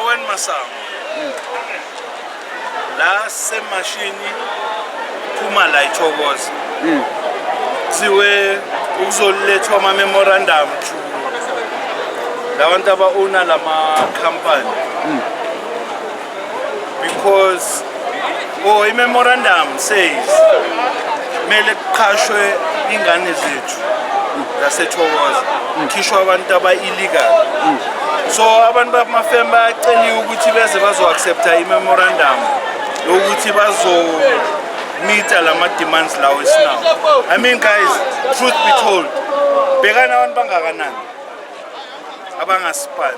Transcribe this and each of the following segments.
Owen Masango hmm. la semashini phuma la ithokoza hmm. kuthiwe ukuzolethwa ama-memorandum to labantu aba-owna la makhampani hmm. because oh i-memorandum says kumele kuqhashwe ingane zethu zasethokoza ngikhishwa abantu aba-illegal so abantu bamafem bayaceliwe ukuthi beze bazo-accepta i-memorandum yokuthi bazomita la ma-demands lawo esinawo i mean guys truth be told bhekani abantu bangakanani abangasipani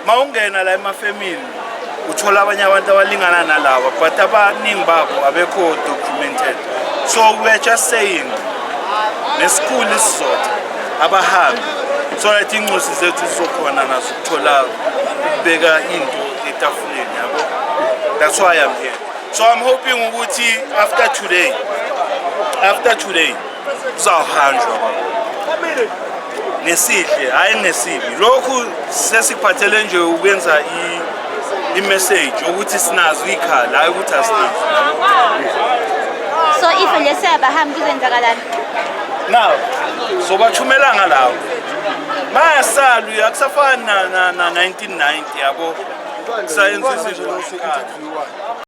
uma ungena la emafemini uthola abanye abantu abalingana nalaba but abaningi babo abekho documented so we're just saying nesikhulu isizotha abahambi so that incosi zethu zizokhona nazo ukuthola ukubeka into etafuleni yabo that's why i'm here so i'm hoping ukuthi after today after today kuzawuhanjwa ngesihle hhayi ngesibi lokhu sesiphathele nje ukwenza i-message ukuthi sinazo iy'khala hhayi ukuthi asinazo so if nje siyabahambi kuzenzakalani now sobathumela ngalawo bayasala uye akusafani na-1990 yabo kusayenza izinto